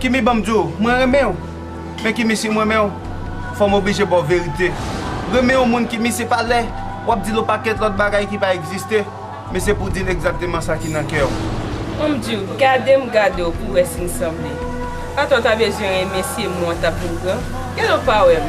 Kimi banm diw mwen renmenw men kimi sim renmenw fòm oblije baw verite renmen yon moun kimi se pa lè wap dil yon pakèt lòt bagay ki pa egziste men se pou dil egzakteman sa ki nan kèw. Banm diw gadem gadew pou wè sin sanble atò ta bezwen renmen se mwen tap mou pran gadon pa wèm.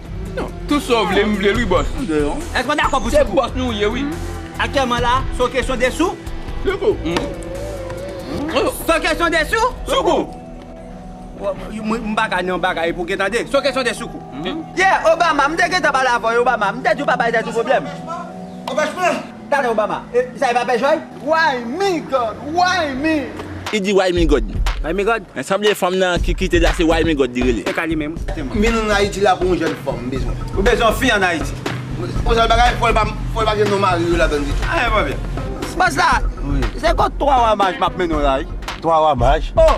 Tout sa w vle m vle l wi bòs. Èske w dakò pou ti kou? Se bòs nou w ye wi. Aktyèlman la, se yon kesyon de sou? Sou kou. Se yon kesyon de sou? Sou kou. M pa ka nan yon bagay epi w gen tande. Se yon kesyon de sou kou. Yeah Obama, m te gentan pale avè w Obama. M te di w pa bay tèt ou pwoblèm. Obama, Gade Obama, e sa e pa pè Joy? Why me God, why me? Li di why me God. Why me God? Men sanble fanm nan ki kite la se why me God li rele. Se ka li menm. M vin ann Ayiti la pou yon jèn fanm m bezwen. Ou bezwen yon fi ann Ayiti? Pou sèl bagay, fò l pa gen non mari yo ladann ditou. Anyen pa byen. Baz la, se kot 3 wa maj m ap mennen w la wi? 3 wa maj? Oh!